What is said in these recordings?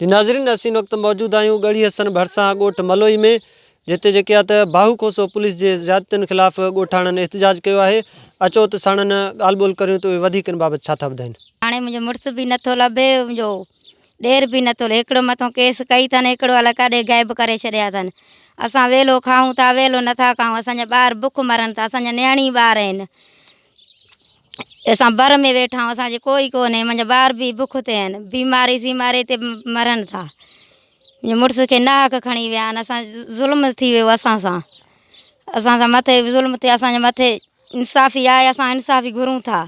جي ناظرين اسين هن وقت موجود آهيون ڳڙهي حسن ڀرسان ڳوٺ ملوئي ۾ جتي جيڪي آهي ته باهو کوسو پوليس جي زيادتين خلاف ڳوٺاڻن احتجاج ڪيو آهي اچو ته ساڻن ڳالهه ٻولهه ڪريون ته اهي وڌيڪ ان بابت ڇا ٿا ٻڌائين. هاڻي منهنجو مڙس به نٿو لڀي منهنجو ڏير به نٿو لڀي هڪڙو مٿو ڪيس ڪئي اٿن هڪڙو الائي ڪاڏي غائب ڪري ڇڏيا اٿن اسان ويلو کائون ٿا ويلو نٿا کائون اسان جا ٻار بک مرن ٿا اسان جا نياڻي ٻار آهن. اسان بر ۾ ويٺا آهيون، اسان جي ڪوئي ڪونهي، منهنجا ٻار به بک تي آهن، بيماري سيماري تي مرن ٿا، منهنجي مڙس کي ناحق کڻي ويا آهن، اسان ظلم ٿي ويو اسان سان، اسان سان مٿي ظلم ٿيا، اسان جي مٿي انصافي آهي، اسان انصافي گهرون ٿا،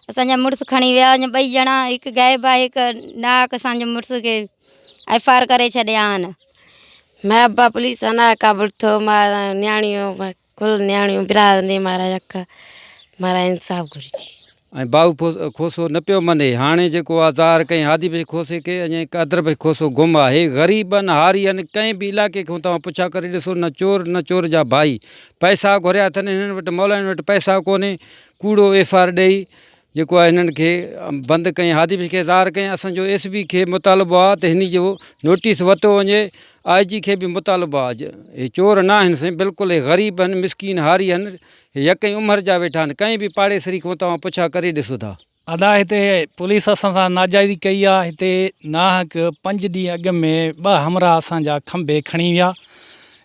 اسان جا مڙس کڻي ويا، اڃا ٻئي ڄڻا هڪ غائب آهي، هڪ ناحق اسان جي مڙس کي ايف آر ڪري ڇڏيا آهن. ميربا پوليس ٿانا کان ورٿو ماران نياڻيون کل نياڻيون برادن ڏي مارا يڪ مارا انصاف گهرجي. ۽ باهو کوسو نه پيو مڃي هاڻي جيڪو آ ظاهر ڪئين هادي بخش کوسي کي اڃا هڪ ادر بخش کوسو گم آ هي غريبن هارين ڪنهن به علائقي کان توهان پڇا ڪري ڏسو نه چور نه چور جا ڀائي پئسا گهريا اٿن هنن وٽ مولائين وٽ پئسا ڪونهي ڪوڙو ايف آر ڏئي جيڪو آهي هنن کي بند ڪيائين هادي بخش کي ظاهر ڪيائين اسان جو ايس پي کي مطالبو آهي ته هني جو نوٽيس ورتو وڃي آئي جي کي به مطالبو آهي جو هي چور نه آهن سائين بلڪل هي غريب آهن مسڪين هاري آهن هي يڪئين عمر جا ويٺا آهن ڪنهن به پاڙيسري کان توهان پڇا ڪري ڏسو ٿا. ادا هتي پوليس اسان سان ناجائزي ڪئي آ هتي ناحق پنج ڏينهن اڳ ۾ ٻه همراهه اسان جا کنڀي کڻي ويا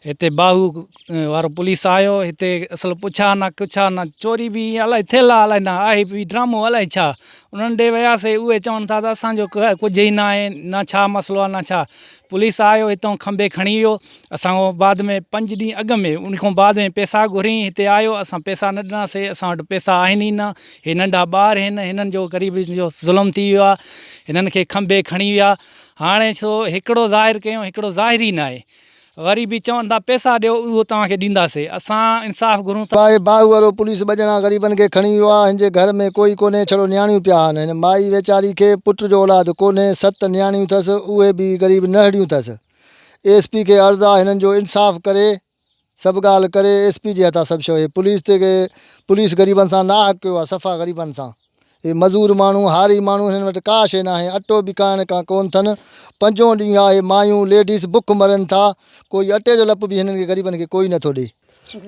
هتي باهو وارو پوليس آيو هتي اصل پڇا نه ڪڇا نه چوري به ائين الائي ٿيل آ الائي نه آهي به ڊرامو الائي ڇا انهن ڏي وياسي اهي چون ٿا ته اسان جو ڪجهه ئي نه آهي نه ڇا مسئلو آ نه ڇا پوليس آيو هتو کنڀي کڻي ويو اسان کان بعد ۾ پنج ڏينهن اڳ ۾ ان کان بعد ۾ پيسا گهرين هتي آيو اسان پيسا نه ڏناسي اسان وٽ پيسا آهن ئي نه هي ننڍا ٻار هن هنن جو غريب جو ظلم ٿي ويو آ هنن کي کنڀي کڻي ويا هاڻي سو هڪڙو ظاهر ڪيون هڪڙو ظاهر ئي نه آهي غريبي چون ٿا پيسا ڏيو اهو توهان کي ڏينداسي اسان انصاف گهرون ٿا. باهه باهه وارو پوليس ٻه ڄڻا غريبن کي کڻي ويو آهي هن جي گهر ۾ ڪوئي ڪونهي ڇڙو نياڻيون پيا آهن هن مائي ويچاري کي پٽ جو اولاد ڪونهي ست نياڻيون ٿس اهي به غريب نهڙيون ٿس ايس پي کي عرض آهي هنن جو انصاف ڪري سڀ ڳالهه ڪري ايس پي جي هٿان سڀ شيو هي پوليس تي پوليس غريبن سان ناحق ڪيو آهي صفا غريبن سان. هي مزور ماڻهو، هاري ماڻهو، هنن وٽ ڪا شيء ناهي، اٽو به کائڻ کان ڪونه ٿن. پنجون ڏينهن آهي، مايون، ليڊيز، بک مرن ٿا. ڪوئي اٽي جو لپ به هنن کي غريبن کي ڪوئي نٿو ڏئي.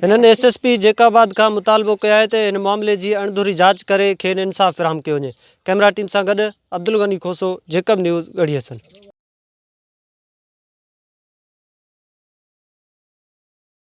هنن S S P Jacobabad کان مطالبو ڪيو آهي ته هن معاملي جي اڻڌري جاچ ڪري کين انصاف فراهم ڪيو وڃي. ڪئميرا ٽيم سان گڏ عبدالغني کوسو، جيڪب نيوز، ڳڙهي حسن.